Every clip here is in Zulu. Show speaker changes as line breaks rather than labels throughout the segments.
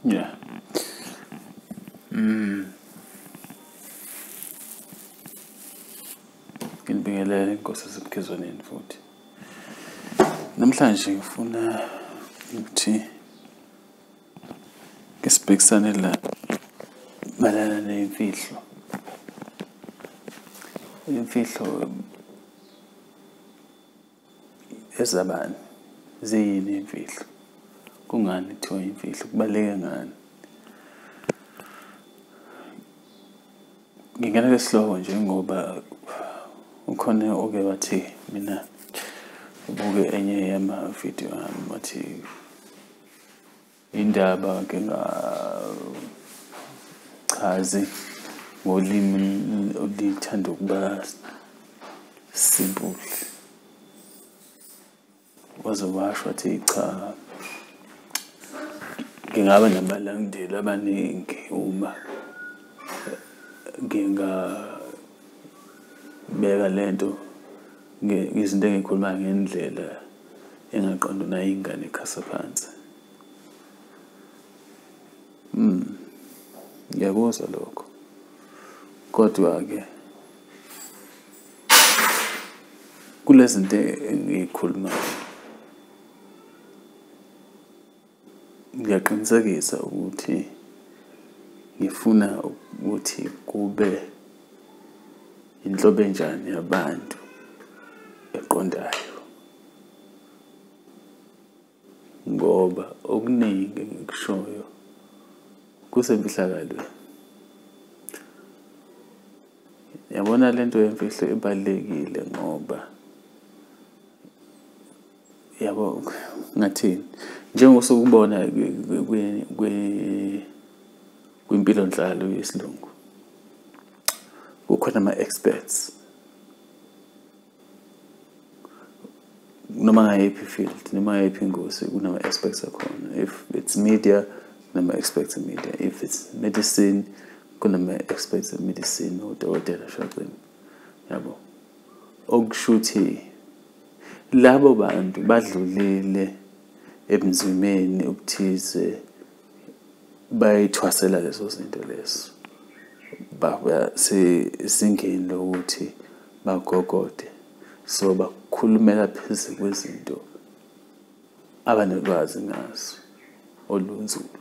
Yeah. Mm. Ngibingelele inkosi esemkhizwaneni futhi. Namhlanje ngifuna ukuthi ngisibhekisane la malana nemfihlo. Imfihlo ezabani ziyini imfihlo kungani kuthiwa imfihlo kubaluleke ngani ngingena lesihloko nje ngoba ukhona oke wathi mina ubuke enye yama-video ami wathi indaba ke ngachazi ngolimi olithanda ukuba simple waze washo athi cha ngingaba nabalandeli abaningi uma ngingabeka lento izinto engikhuluma ngendlela engaqondo nayo ingane ekhasa phansi mm ngiyakuzwa lokho kodwa ke kulezinto engikhulumayo ngiyaqinisekisa ukuthi ngifuna ukuthi kube inhlobo enjani yabantu eqondayo ngoba okuningi engikushoyo kusemfihlakalweni yabona lento yemfihlo ibalekile ngoba yabo ngathini njengosukubona kwimpilo nhlalo yesilungu kukhona ama-experts noma ngayiphi field noma ngayiphi ingozi kunama-experts akhona if it's media kunama-experts media if it's medicine kunama-experts medicine odokotela shaqini yabo okusho ukuthi Labo bantu badlulile ebunzimeni obuthize bayithwasela lezo zinto lezo baba sezingeni lokuthi bagogode so bakhulumela phezulu kwezinto abanolwazi ngaso olunzulu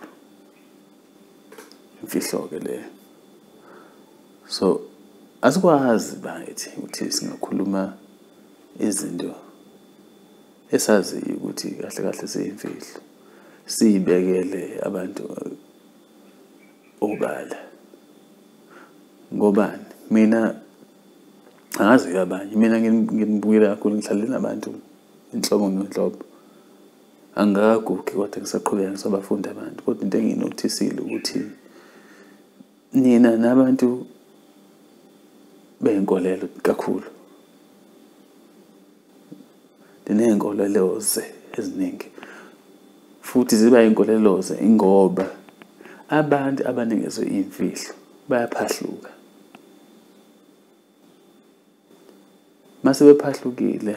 imfihlo-ke leyo so asikwazi bakithi ukuthi singakhuluma izinto esaziyo ukuthi kahle kahle siyimfihlo siyibekele abantu obala ngobani mina angazi ke abanye mina nginibukela kakhulu ngihlale nabantu inhlobo ngenhlobo angikagugi kodwa ngisaqhubeka ngisabafundi abantu kodwa into enginothisile ukuthi nina nabantu beyinkolelo kakhulu Ndineenkoleloze eziningi futhi ziba inkoleloze ingoba abantu abanikezwe iy'mfihlo bayaphahluka. Uma sebephahlukile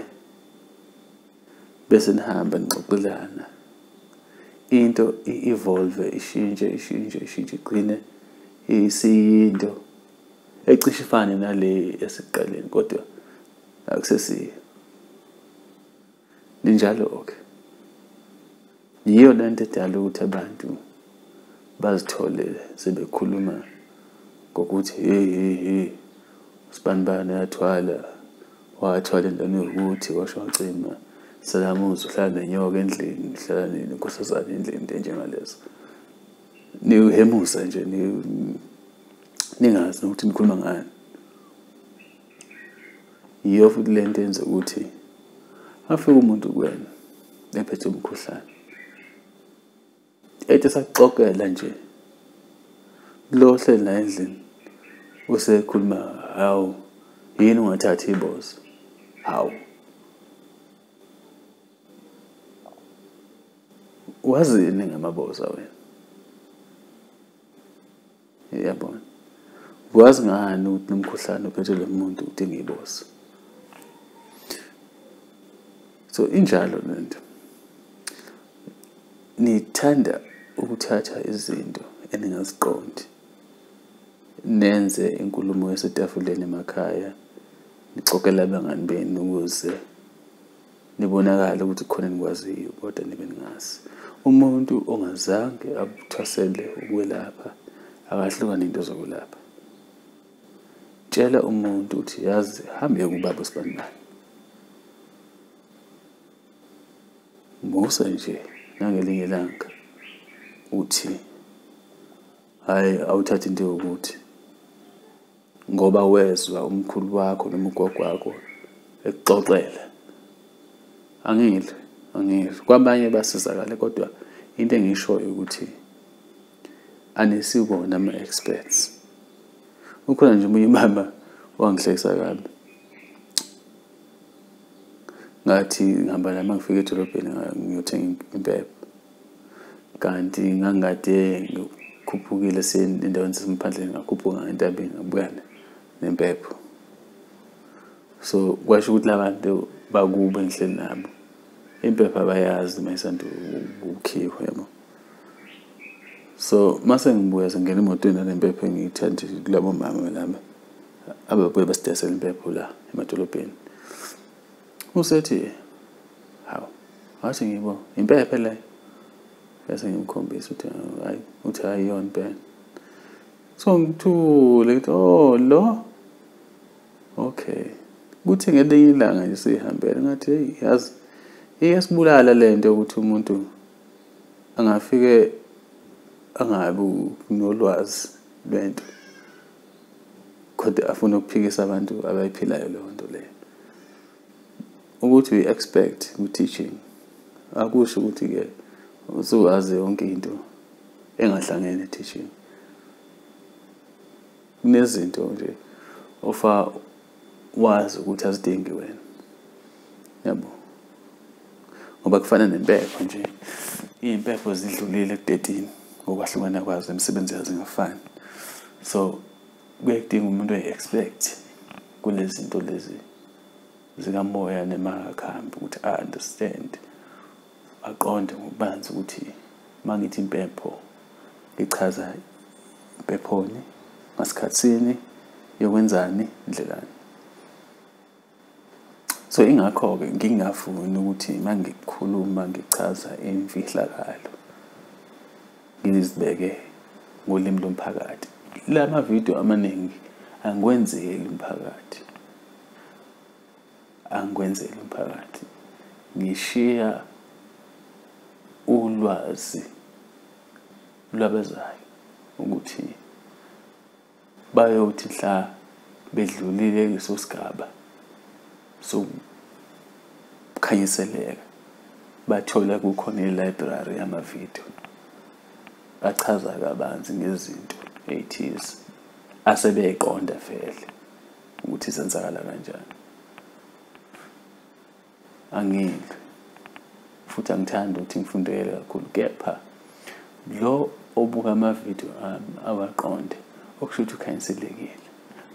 bese nihamba nixoxelana into i-evolve ishintshe ishintshe ishintshe igcine isiyinto ecishe ifane nale esiqaleni kodwa akusesiyo linjalo-ke yiyo le nto edala ukuthi abantu bazithole sebekhuluma ngokuthi hey hey hey usibanibani uyathwala wathwala entwana yokuthi washo wacima salamuzi uhlala nenyoka endlini uhlala nini nkosazane endlini into enjengalezo niwuhemusa nje ningazi nokuthi nikhuluma ngani yiyo futhi le nto yenza ukuthi afike umuntu kuwena ephethe umkhuhlane ethi sakuxokela nje lo hleli la endlini usekhuluma hawu yini ungathathi ibozo hawu wazini ngamaboza wena yabo wazi ngani ukuthi nomkhuhlane uphethe lo muntu ukuthi ngiyibose so injalo lento nithanda ukuthatha izinto eningaziqondi nenze inkulumo yasetafuleni emakhaya nixokela abangani benu ukuze Nibonakala ukuthi khona nikwaziyo kodwa nibe ningazi. Umuntu ongazange abuthwasele ukwelapha akahlukane into zokwelapha. Tshela umuntu ukuthi yazi hambe kubaba uSibandani. Musa nje nangelinye ilanga uthi hayi awuthathe into yokuthi ngoba wezwa umkhulu wakho noma ugogo wakho ekuxoxela angile angile kwabanye basizakale kodwa into engishoyo ukuthi anisibona ama-experts ukhona nje omunye umama wangihlekisa kabi ngathi ngihamba nami ngifika edolobheni ngiyothenga impepho kanti ngangikade ngikhuphukile endaweni zasemaphandleni ngakhuphuka ngentabeni ngabuyana nempepho so kwasho ukuthi labantu bakube ngihleli nabo impepho abayazi uma isanda ukukhiwa yabo so mase ngibuya sengena emotweni nalempepho engiyithandi kulabo mama laba ababuye basidesela impepho la emadolobheni usethi hawu ngathi ngibo impephe le bese ngimkhombisa ukuthi hayi uthi hayi yona impela so ngithule ngithi oh lo okay kuthi ngelinye ilanga nje sihambele ngathi hey yazi iyasibulala le nto yokuthi umuntu angafike angabi nolwazi lwento kodwa afuna ukuphikisa abantu abayiphilayo leyo nto leyo ukuthi uyi-expect kwi-teaching akusho ukuthi-ke usuwazi yonke into engahlangene teaching kunezinto nje ofa wazi ukuthi azidingi wena yabo ngoba kufana nempepho nje iy'mpepho zidlulile kudedini ngokwahlukana kwazo imisebenzi yazo ingafani so kuye kudinga umuntu ayi-expect kule zinto lezi zikamoya nemakakhambi ukuthi a-understand aqonde ngokubanzi ukuthi uma ngithi impepho ngichaza impephoni ngasikhathini yokwenzani ndlelani so ingakho-ke ngingafuni ukuthi uma ngikhuluma ngichaza imfihlakalo ngizibeke ngolimi lomphakathi la mavidiyo amaningi angikwenzeli umphakathi angikwenzeli umphakathi ngishiya ulwazi lwabezayo ukuthi bayothi hla bedlulile kuleso sigaba sokukhanyiseleka bathola kukhona i-library yamavidiyo bachaza kabanzi ngezinto ey'thize asebeyiqonda vele ukuthi zenzakala kanjani angidli futhi angithandi ukuthi ngifundele kakhulu kepha lo obuka amavidiyo ami awaqonde okusho ukuthi ukhanyiselekile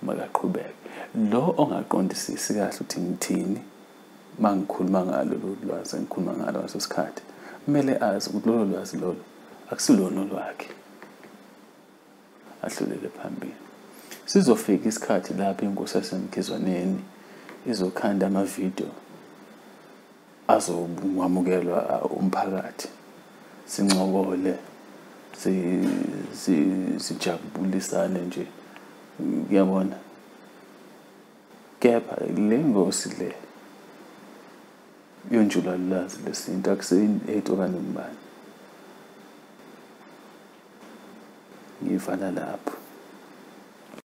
makaqhubeke lo ongaqondisisi kahle ukuthi ngithini uma ngikhuluma ngalo lolu lwazi engikhuluma ngalo ngaso sikhathi kumele azi ukuthi lolo lwazi lolo akusilona olwakhe ahlulele phambili sizofika isikhathi lapho inkosi yasemkhizwaneni izokhanda amavidiyo azokwamukelwa uh, umphakathi sincokole sijabulisane nje kuyabona kepha le ngosi le yonjulalulazi lesintu akuseyini eight okanye umbani ngivala lapho